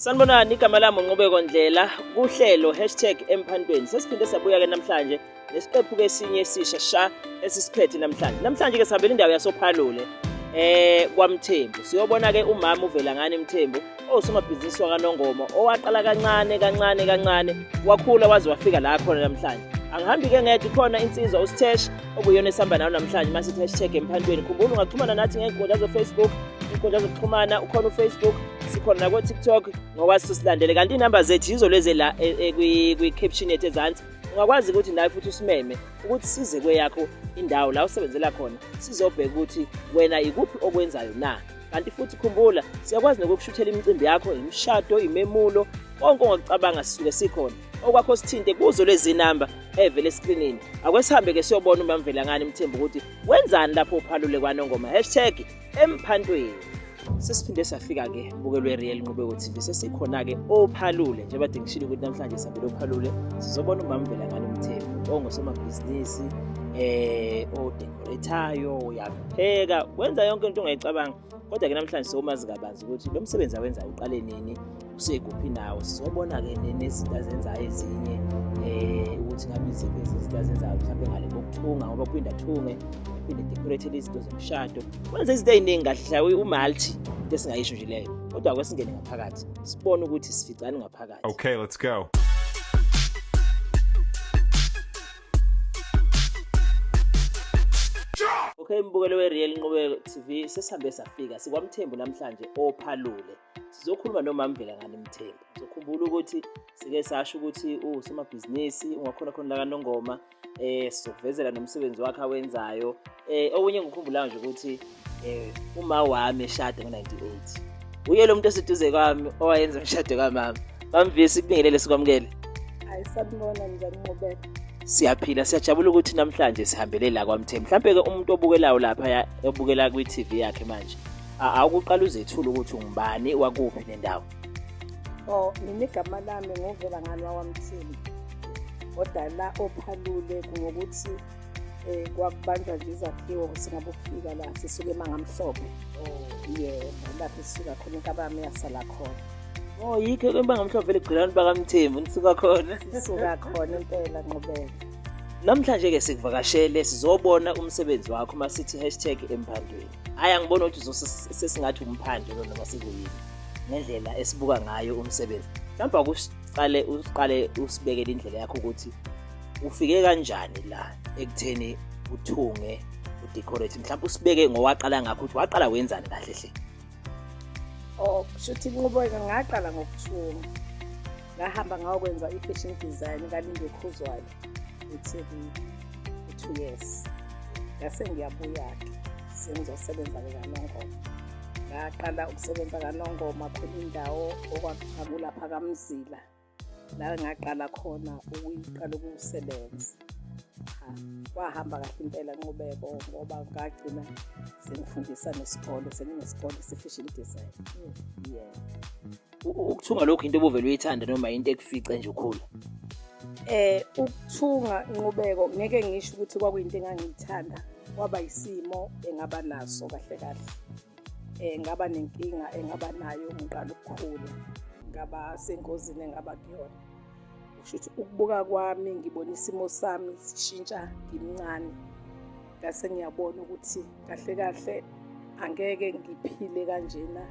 Sanibonani, igama lami uNqubeko Ndlela kuhlelo hashtag emphantweni. Sesiphinde sabuya-ke namhlanje nesiqephu-ke esinye esisha sha esisiphethe namhlanje. Namhlanje-ke sihambela indawo yasophalule eh kwaMthembu. Siyobona-ke umama uvela ngani Mthembu osomabhizinisi wakanongoma owaqala kancane kancane kancane wakhula waze wafika la khona namhlanje. Angihambi-ke ngedwa khona insizwa uSthesh okuyona esihamba nayo namhlanje uma sithi hashtag emphantweni khumbula ungaxhumana nathi ngey'nkundla zofacebook iy'nkundla zokuxhumana ukhona ufacebook sikhona nakotiktok ngokwazi silandele kanti iy'namba zethu yizo lezi la e, e, kwi-caption yethu ezansi ungakwazi ukuthi nawe futhi usimeme ukuthi size kweyakho indawo la usebenzela khona sizobheka ukuthi wena ikuphi okwenzayo na kanti futhi khumbula siyakwazi nokukushuthela imicimbi yakho imishado imemulo konke ongakucabanga sisuke sikhona okwakho sithinte kuzo lezi namba evele eskrinini akwesihambe-ke siyobona umamvelangane mthemba ukuthi wenzani lapho uphalule kwanongoma hashtag emphantweni sesiphinde safika-ke bukelwe real nqubeko tv sesikhona-ke ophalule njengoba dingishile ukuthi namhlanje sihambele ophalule sizobona umamvelangane umthembu ongosomabhizinisi eh odekorethayo uyapheka wenza yonke into ongayicabanga kodwa ke namhlanje somazi kabanzi ukuthi lo msebenzi awenza uqale nini usekuphi nawo sizobona-ke nezinto azenzayo ezinye um ukuthi ngabe iziphi izinto azenzayo mhlawumbe ngale kokuthunga ngoba kuphinde athunge aphinde decoratele izinto zomshado kwenza izinto ey'ningi kahle hlawe umalti into esingayisho nje leyo kodwa kwesingene ngaphakathi sibone ukuthi sificani ngaphakathi okay let's go Okay mbukelo weReal Nqubeko TV sesihambe safika sikwamthembu namhlanje ophalule sizokhuluma nomamvela ngani mthembu sizokhumbula ukuthi sike sasho ukuthi usomabhizinisi ungakhona khona la kanongoma eh sizokuvezela nomsebenzi wakhe awenzayo eh okunye ngikhumbulayo nje ukuthi Eh uma wami eshade ngo-98. Uye lo muntu oseduze kwami owayenza umshado kamama. Bamvisi kubingelele sikwamukele. Hayi sabona njani ngobeka. Siyaphila siyajabula ukuthi namhlanje sihambele la kwaMthe. Mhlambe ke umuntu obukelayo lapha obukela kwi-TV yakhe manje. Awukuqala uzethula ukuthi ungubani wakuphi nendawo. Oh, mina igama lami ngovela ngalwa kwaMthini. kodwa la ophalule ngokuthi um kwakubanjwa nje izakhiwo singabo kufika la sisuke emangamhlophe oh. yebo lapho sisuka khona inkabami yasala khona o oh, yikho emangamhlophe eligqilani bakamthembu nisuka khona sisuka khona impela nqobela namhlanje-ke sikuvakashele sizobona umsebenzi wakho uma sithi hashtag emphandweni hhayi angiboni ukuthi sesingathi umphandle lo noma sikuyini ngendlela esibuka ngayo umsebenzi mhlawumbe akusiqale usiqale usibekele indlela yakho ukuthi ufike kanjani la ekutheni uthunge udecorate mhlawumbe usibeke ngowaqala ngakho ukuthi waqala wenzani kahle hle oh kushuthi inqubeka ngaqala ngokuthunga ngahamba ngawokwenza i-fashion design kalinde khuzwayo e-tv two years ngase ngiyabuya-ke sengizosebenza-ke kanongoma ngaqala ukusebenza kanongoma khona indawo okwakuthakulapha kamzila la ngaqala khona ukuyiqala ukusebenza kwahamba kahle impela nqubeko ngoba ngagcina sengifundisa nesikole senginesikole se-fashion design yeah ukuthunga lokhu into obuvele uyithanda noma into ekufice nje ukhula eh ukuthunga inqubeko ngeke ngisho ukuthi kwakuyinto engangiyithanda kwaba isimo engaba naso kahle kahle um ngaba nenkinga engaba nayo ngiqala ukukhula ngaba sengozini engaba kuyona kusho ukuthi ukubuka kwami ngibona isimo sami sishintsha ngimncane ngase ngiyabona ukuthi kahle kahle angeke ngiphile kanjena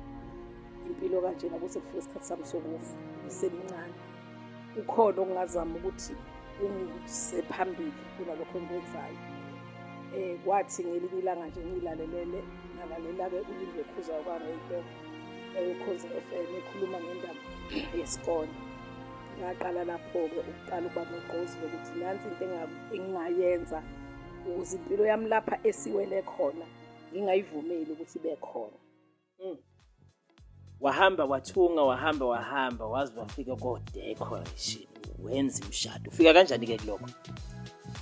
impilo kanjena kuze kufike isikhathi sami sokufa ngisemncane kukhona okungazama ukuthi kungise phambili kunalokho engikwenzayo um kwathi ngelinye ilanga nje ngiyilalelele ngalalela-ke ulindwe khuza kwaredo eyokhozi F M ekhuluma ngendaba yesikole ngaqala lapho-ke ukuqala ukuba nogqozi lokuthi nansi into engingayenza ukuze impilo yami lapha esiwele khona ngingayivumeli ukuthi ibe khona mm. wahamba wathunga wahamba wahamba waze wafika kodecoration wenza imshado ufika kanjani-ke kulokho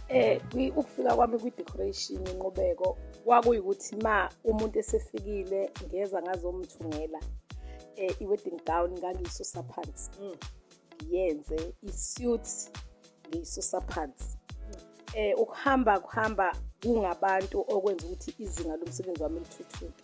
eh ukufika kwami kwi-decoration inqubeko kwakuyukuthi ma umuntu esefikile ngeza ngazomthungela eh i-wedding gown ngangiyisusa phansi mm. ngiyenze i-suit ngiyisusa phansi eh ukuhamba kuhamba kungabantu okwenza ukuthi izinga lomsebenzi wami lithuthuke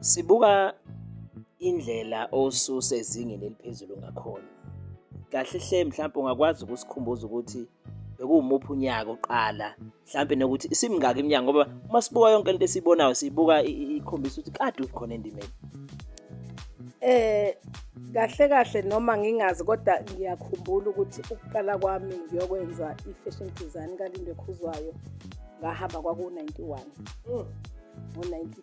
Sibuka indlela osuse ezingeni eliphezulu ngakhona. Kahle hle mhlawumbe ungakwazi ukusikhumbuza ukuthi bekuwumuphi unyaka oqala mhlawumbe nokuthi isimingaki iminyaka ngoba uma sibuka yonke lento esiyibonayo siyibuka ikhombisa ukuthi kade ukhona endimeni. Eh kahle kahle noma ngingazi kodwa ngiyakhumbula ukuthi ukuqala kwami ngiyokwenza i-fashion design kalindwe khuzwayo ngahamba kwaku-91 ngo-92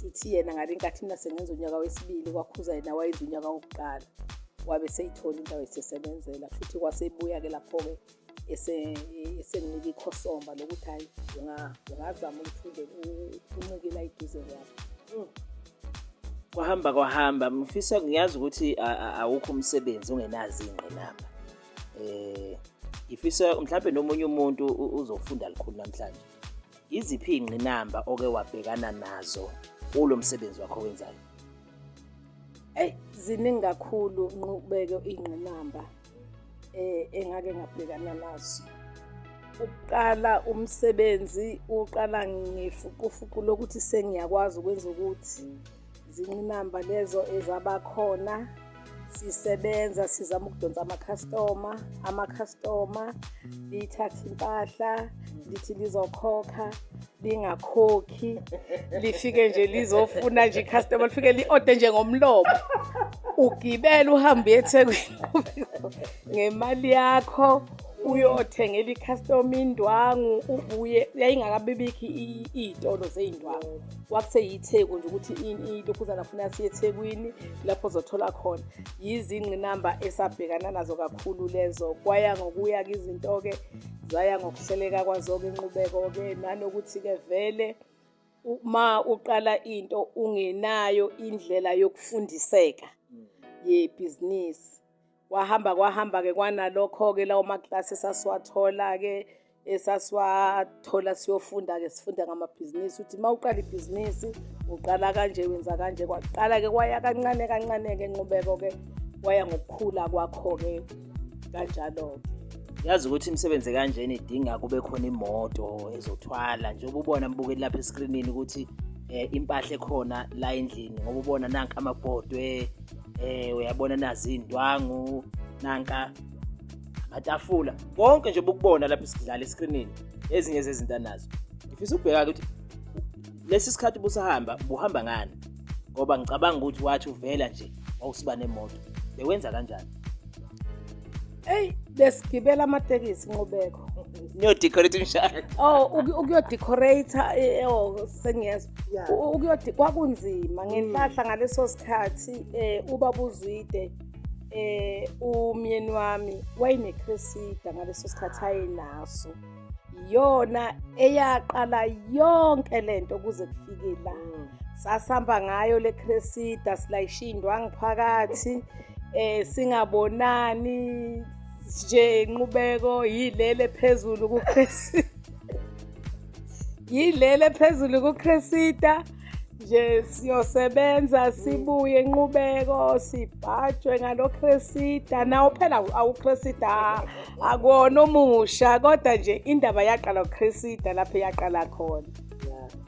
shuthi yena ngabe inkathi mina sengenza unyaka wesibili kwakhuza yena wayenza unyaka wokuqala wabe seyithola indawo esesebenzela shuthi kwasebuya-ke lapho-ke esenginika ikhosomba lokuthi hhayi ungazama ukuthi uncikela iduze kwabo mm. kwahamba kwahamba mfisa ngiyazi ukuthi awukho umsebenzi ungenazi ingqinamba um ngifisa mhlawumbe nomunye umuntu uzofunda likhulu namhlanje Iziphi iy'ngqinamba oke wabhekana nazo kulo msebenzi wakho owenzayo? Eyi ziningi kakhulu nqubeke iy'ngqinamba um engake ngabhekana nazo. Ukuqala umsebenzi uqala ngefukufuku lokuthi sengiyakwazi ukwenza ukuthi Zingqinamba lezo ezabakhona sisebenza sizama ukudonsa amakhastoma amakhastoma lithathe impahla lithi lizokhokha lingakhokhi lifike nje lizofuna nje icustomer lifike li-ode nje ngomlomo ugibele uhambe uyethekwini ngemali yakho uyothengela icustomer indwangu ubuye yayingakabibikho iy'tolo zey'ndwangu kwakuseyitheku nje ukuthi ilokhuzana funa siye ethekwini lapho zothola khona yizingqinamba esabhekana nazo kakhulu lezo kwaya ngokuya-ke izinto-ke zaya ngokuhleleka kwazo-ke inqubeko-ke nanokuthi-ke vele uma uqala into ungenayo indlela yokufundiseka yebhizinisi kwahamba kwahamba-ke kwanalokho-ke lawo maklasi esasiwathola-ke esasiwathola siyofunda-ke sifunda ngamabhizinisi ukuthi uma uqala ibhizinisi uqala kanje wenza kanje kwaqala-ke kwaya kancane kancane-ke nqubeko-ke kwaya ngokukhula kwakho-ke kanjalo-ke yazi ukuthi imisebenzi kanjena idinga kube khona imoto ezothwala njengoba ubona mbukeli lapha eskrinini ukuthi um impahla ekhona la endlini ngoba ubona nanka amabhodwe eh uyabona nazi indwangu nanka amatafula konke nje bukubona lapha isidlala escreenini ezinye zezinto anazo ngifisa ukubheka ukuthi lesi sikhathi busahamba buhamba ngani ngoba ngicabanga ukuthi wathi uvela nje wawusiba nemoto bewenza kanjani eyi besigibela amatekisi nqubeko niyodecorate umshado oh ukuyodecorate eh, oh sengiyezwa ukuyodi kwakunzima ngenhlahla ngaleso sikhathi um ubaba uzwide eh umyeni wami wayenecresida ngaleso sikhathi ayenaso yona eyaqala yonke lento kuze kufike la mm. sasihamba ngayo le cresida silayishindwa ngiphakathi eh singabonani nje inqubeko yilele phezulu kucresida yileli ephezulu kuCresita nje siyosebenza sibuye inqubeko sibhajwe ngaloCresita nawo phela awuCresita akuwona omusha kodwa nje indaba yaqala uCresita lapho yaqala khona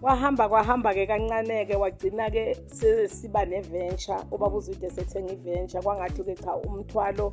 wahamba kwahamba-ke kancane-ke wagcina-ke siba ne-venture ubaba uzwide sethenga i-venture kwangathi-ke cha umthwalo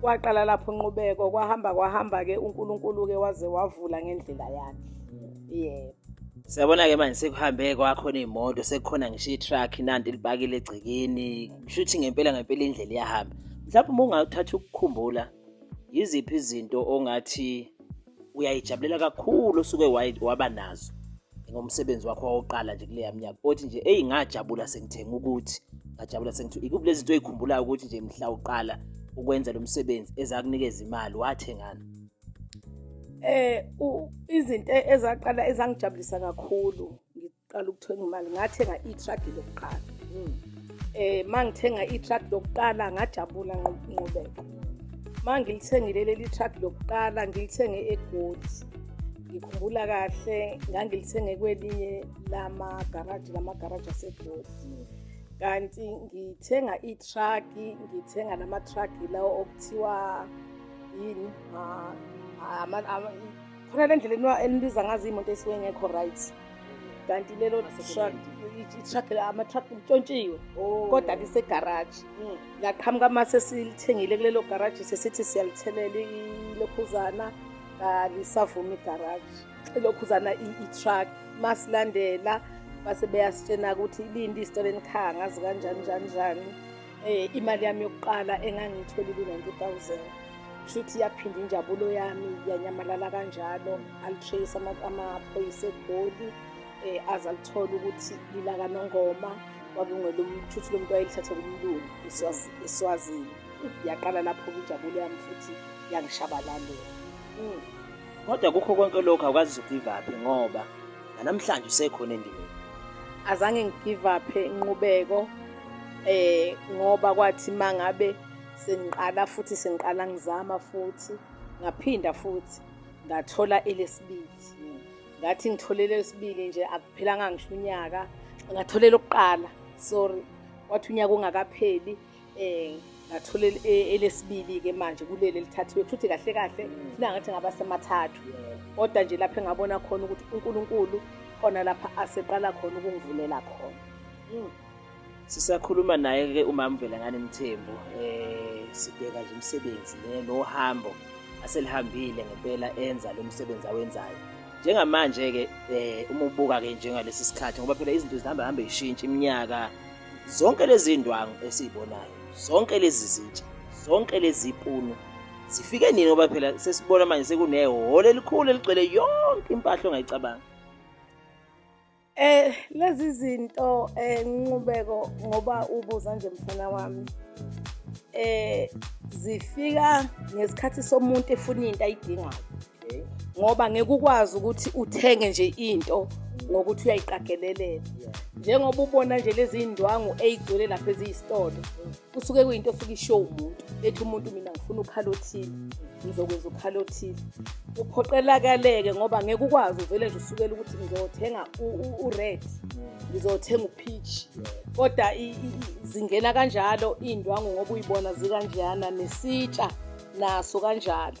kwaqala lapho nqubeko kwahamba kwahamba ke uNkulunkulu ke waze wavula ngendlela yakhe yebo Siyabona ke manje sekuhambe kwakhona imoto sekukhona ngisho i-truck nanti libakile egcekeni kushuthi ngempela ngempela indlela iyahamba mhlawumbe uma ungathatha ukukhumbula yiziphi izinto ongathi uyayijabulela kakhulu osuke waba nazo ngomsebenzi wakho wawoqala nje kuleya mnyaka othi nje eyi ngajabula sengithenga ukuthi ngajabula sengithi ikuphi lezi zinto oyikhumbulayo ukuthi nje mhla uqala ukwenza lo msebenzi ezakunikeza imali wathengana eh izinto ezaqala ezangijabulisa kakhulu qala ukuthenga imali ngathenga i-truck lokuqala um mangithenga i-truck lokuqala ngajabula nqubeko mangilithengile leli truck lokuqala ngilithenge egodi ngikhumbula kahle ngangilithenge kwelinye lamagaraji lamagaraji asegodi kanti ngithenga ithraki ngithenga namathraki lawo okuthiwa yini khona le ndlela eniwa- enibiza ngazo iy'moto esuke ngekho right kanti lelo truck i-truck la- ama-truck ntshontshiwe kodwa lisegaraji laqhamuka uma sesilithengile kulelo garaji sesithi siyalithelela ilokhuzana kalisavumi igaraji ilokhuzana i- i-truck masilandela base beyasitshena ukuthi lindi isitolo enikhaya ngazi kanjani njani njani Eh imali yami yokuqala engangiyitholile ku-90000 shuthi yaphinda injabulo yami yanyamalala kanjalo alitrace amaphoyisa egoli eh aze alithole ukuthi lilakanongoma kwakungelomshuthi lo muntu wayelithathe kumlungu eswazini yaqala lapho injabulo yami futhi yangishabalalela mm. Kodwa kukho konke lokhu awukazi ugive up ngoba nanamhlanje usekhona endimeni. Azange ngigive up inqubeko eh ngoba kwathi mangabe sengiqala futhi sengiqala ngizama futhi ngaphinda futhi ngathola elesibili. Ngathi ngitholele lesibili nje akuphelanga ngisho unyaka ngatholela okuqala sorry wathi unyaka ungakapheli um ngathola elesibili-ke manje kuleli elithathiwe futhi kahle kahle funa ngathi ngaba semathathu kodwa nje lapho engabona khona ukuthi unkulunkulu khona lapha aseqala khona ukungivulela khona hmm. sisakhuluma naye-ke umama velangane mthembu um sibheka nje umsebenzi nohambo aselihambile ngempela enza lo msebenzi awenzayo njengamanje-ke um uma ubuka-ke njengalesi sikhathi ngoba phela izinto zihamba hambe yishintsha iminyaka zonke lezi ndwangu esizibonayo zonke lezi zitsha zonke lezi punu zifike nini ngoba phela sesibona manje sekunehholo elikhulu eligcwele yonke impahla ongayicabanga Eh lezi zinto eh nqubeko ngoba ubuza nje mfana wami. Eh zifika ngesikhathi somuntu efuna into ayidingayo. ngoba ngeke ukwazi ukuthi uthenge nje into ngokuthi uyayiqagelelela njengoba ubona nje lezi iy'ndwangu ey'gcwele lapha eziyisitolo kusuke kuyinto osuke isho umuntu ethi umuntu mina ngifuna ukhala othile ngizokwenza ukhala othile uphoqelakaleke ngoba ngeke ukwazi uvele nje usukele ukuthi ngizothenga u-red ngizothenga upeach kodwa zingena kanjalo iy'ndwangu ngoba uyibona zikanjeyana nesitsha naso kanjalo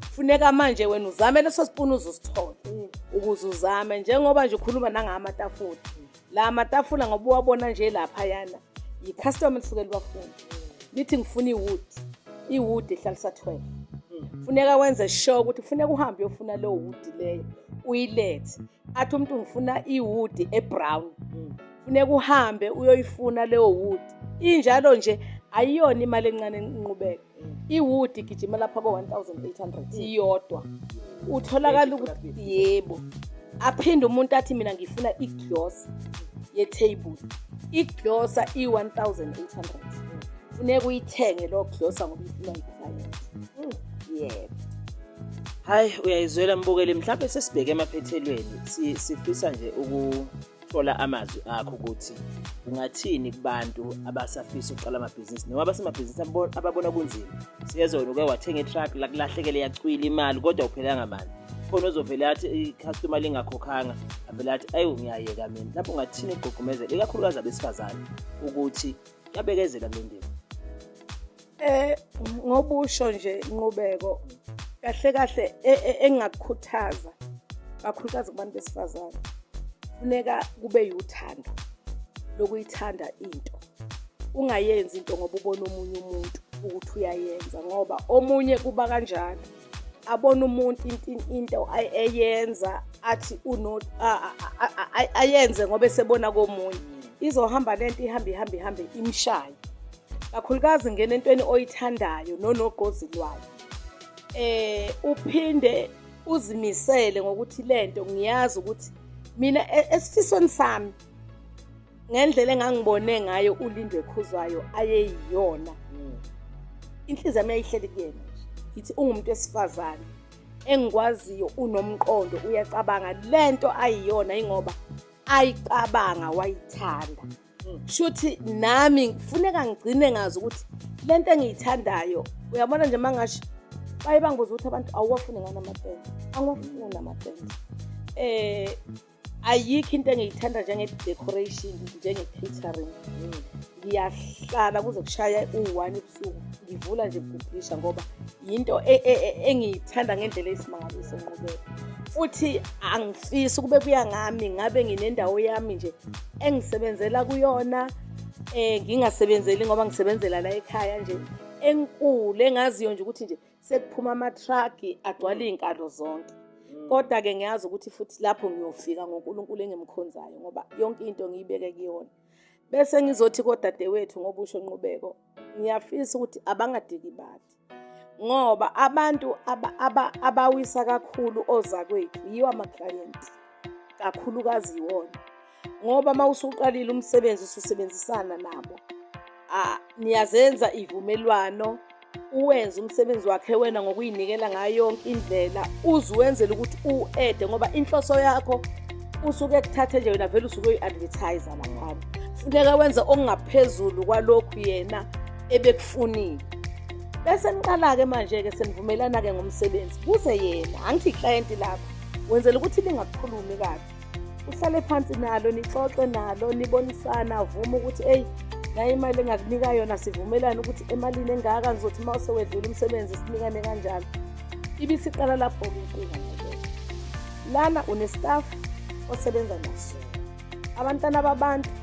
funeka manje wena uzame leso sipuni uzusithole ukuze uzame njengoba nje ukhuluma nangama matafula la matafula ngoba uwabona nje lapha yana yi-customer lisuke libafuna lithi ngifuna iwood iwood ehlalisa 12 funeka wenze sure ukuthi funeka uhambe uyofuna leyo wood leyo uyilethe athi umuntu ngifuna iwood ebrown funeka uhambe uyoyifuna leyo wood injalo nje ayiyona imali encane enqubeka iwood igijima lapha ko-1800 iyodwa utholakala ukuthi yebo aphinde umuntu athi mina ngifuna iglosa yetheyibuli iglosa i-1800 funeka uyithenge loo glosa ngoba ifuna ngifayela hmm. yebo hayi uyayizwela mbukeli mhlawumbe sesibheke emaphethelweni sifisa nje thola amazwi akho ukuthi ungathini kubantu abasafisa ukuqala amabhizinisi noma abasemabhizinisi ababona kunzima siyezona uke wathenga itruck lakulahlekele yacwila imali kodwa uphelanga mali khona ozovele athi i-customer lingakhokhanga avele athi ayi ngiyayeka mina lapho ungathini ukugqugqumezela ikakhulukazi abesifazane ukuthi yabekezela kule ndima Eh ngobusho nje inqubeko kahle kahle e, e, engakukhuthaza kakhulukazi kubantu besifazane funeka kube yuthando lokuyithanda into ungayenzi into ngoba ubona omunye umuntu ukuthi uyayenza ngoba omunye kuba kanjalo abona umuntu into eyenza athi ayenze ngoba esebona komunye izohamba lento ihambe ihambe ihambe imshaye kakhulukazi ngena entweni oyithandayo nonogqozi lwayo eh uphinde uzimisele ngokuthi lento ngiyazi ukuthi mina e, esifisweni sami ngendlela engangibone ngayo ulindwe ekhuzwayo ayeyiyona hmm. inhliziyo yami yayihleli kuyena nje yithi ungumuntu wesifazane engikwaziyo unomqondo uyacabanga le nto ayiyona yingoba ayicabanga wayithanda hmm. shuthi nami kufuneka ngigcine ngazi ukuthi le nto engiyithandayo uyabona nje mangasho baye bangibuza ukuthi abantu awuwafuni ngani amapende angiwafuni amapende um eh, ayikho into engiyithanda njenge-decoration njenge-catering ngiyahlala kuze kushaya u-one ebusuku ngivula nje kubhubhisha ngoba yinto e, e, e, engiyithanda ngendlela eyisimangaliso nqubeka futhi angifisi ukube kuya ngami ngabe nginendawo yami nje engisebenzela kuyona um ngingasebenzeli ngoba ngisebenzela la ekhaya nje enkulu engaziyo nje ukuthi nje sekuphuma amathraki agcwala iy'nkalo zonke mm. kodwa-ke ngiyazi ukuthi futhi lapho ngiyofika ngonkulunkulu engimkhonzayo ngoba yonke into ngiyibeke kuyona bese ngizothi kodadewethu ngoba usho nqubeko ngiyafisa ukuthi abangadikibali ngoba abantu abawisa kakhulu ozakwethu yiwo amaklayenti kakhulukazi yiwona ngoba uma usuqalile umsebenzi ususebenzisana nabo niyazenza ivumelwano uwenze umsebenzi wakhe wena ngokuyinikela ngayo yonke indlela uze uwenzele ukuthi u-ede ngoba inhloso yakho usuke kuthathe nje wena vele usuke uyi-advertise laphana funeka wenze okungaphezulu kwalokhu yena ebekufunile bese niqala-ke manje-ke senivumelana-ke ngomsebenzi kuze yena angithi iklayenti lakho wenzela ukuthi lingakukhulumi kabi uhlale phansi nalo nixoxe nalo nibonisana avuma ukuthi eyi naye imali engakunika yona sivumelane ukuthi emalini engaka ngizothi uma usewedlula umsebenzi sinikane kanjalo ibisiqala lapho-ke inkinga naleyo lana unestaff osebenza naso abantwana babantu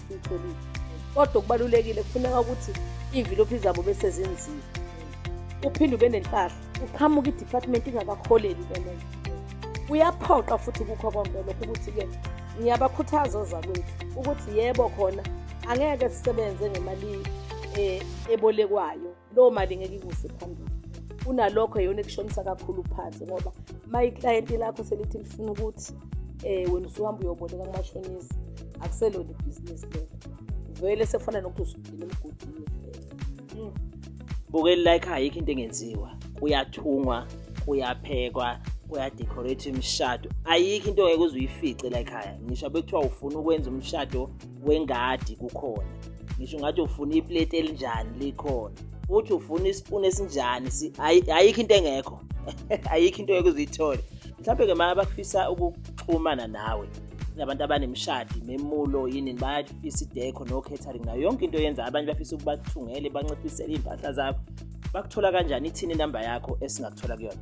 siyitholile kodwa okubalulekile kufuneka ukuthi iy'mvilophi zabo bese zinzile uphinde ube nempahla uqhamuka i-department ingakakholeli ke leyo kuyaphoqa futhi kukho konke lokho ukuthi-ke ngiyabakhuthaza ozakwethu ukuthi yebo khona angeke sisebenze ngemali eh, ebolekwayo loo mali ngeke ikuse phambili kunalokho yona ekushonisa kakhulu phansi ngoba uma iklayenti lakho selithi lifuna ukuthi um wena usuhamba uyoboleka kumashonisa akuselona ibhizinisi lelo vele sefana nokuthi usugcina emgodini vele bukeli like ayikho into engenziwa kuyathungwa kuyaphekwa kuyadecorate imishado ayikho into ongeke uze uyifice la ekhaya ngisho bekuthiwa ufuna ukwenza umshado wengadi kukhona ngisho ngathi ufuna iplate elinjani likhona futhi ufuna isipuni esinjani ayikho into engekho ayikho into yokuze uyithole mhlawumbe-ke ma abafisa ukuxhumana nawe nabantu abanemishadi memulo yini bayafisa idekho no-catering nayo yonke into yenza abanye bafisa ukubathungele banciphisele iy'mpahla zakho bakuthola kanjani ithini inamba yakho esingakuthola kuyona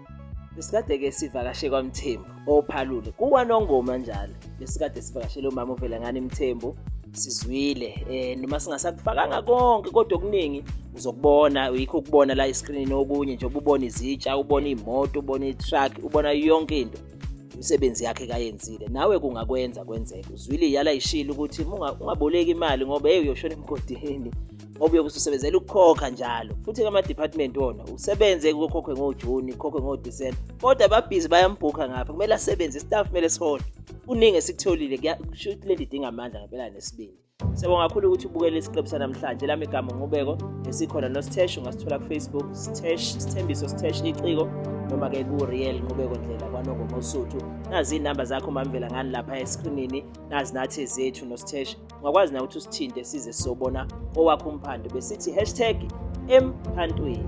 besikade-ke sivakashe kwamthembu ophalule kuwanongoma njalo besikade sivakashele umama uvelangani mthembu sizwile eh noma singasakufakanga konke kodwa okuningi uzokubona yikho ukubona la iscreen okunye nje ubona izitsha ubona imoto ubona itruck ubona yonke into imisebenzi yakhe kayenzile nawe kungakwenza kwenzeke uzwile yala ishilo ukuthi ungaboleki imali ngoba hey uyoshona emgodini ngoba uyobe ususebenzela ukukhokha njalo futhi kama-department wona usebenze kokhokhwe ngojuni kokhokhwe ngodisemba kodwa ababhizi bayambhukha ngapha kumele asebenze istaff kumele sihole kuningi esikutholile kusho ukuthi le nto idinga amandla ngempela nesibindi Siyabonga kakhulu ukuthi ubukele isiqebu sanamhlanje lami igama ngubeko esikhona nositheshu ungasithola kufacebook sitesh sithembiso sitesh iciko noma-ke ku-real nqubeko ndlela kwanongomosuthu nazi iy'namba zakho mamvela ngani lapha eskrinini nazi nathi zethu nositesh ungakwazi nawe ukuthi usithinte size sobona owakho umphando besithi hashtag emphantweni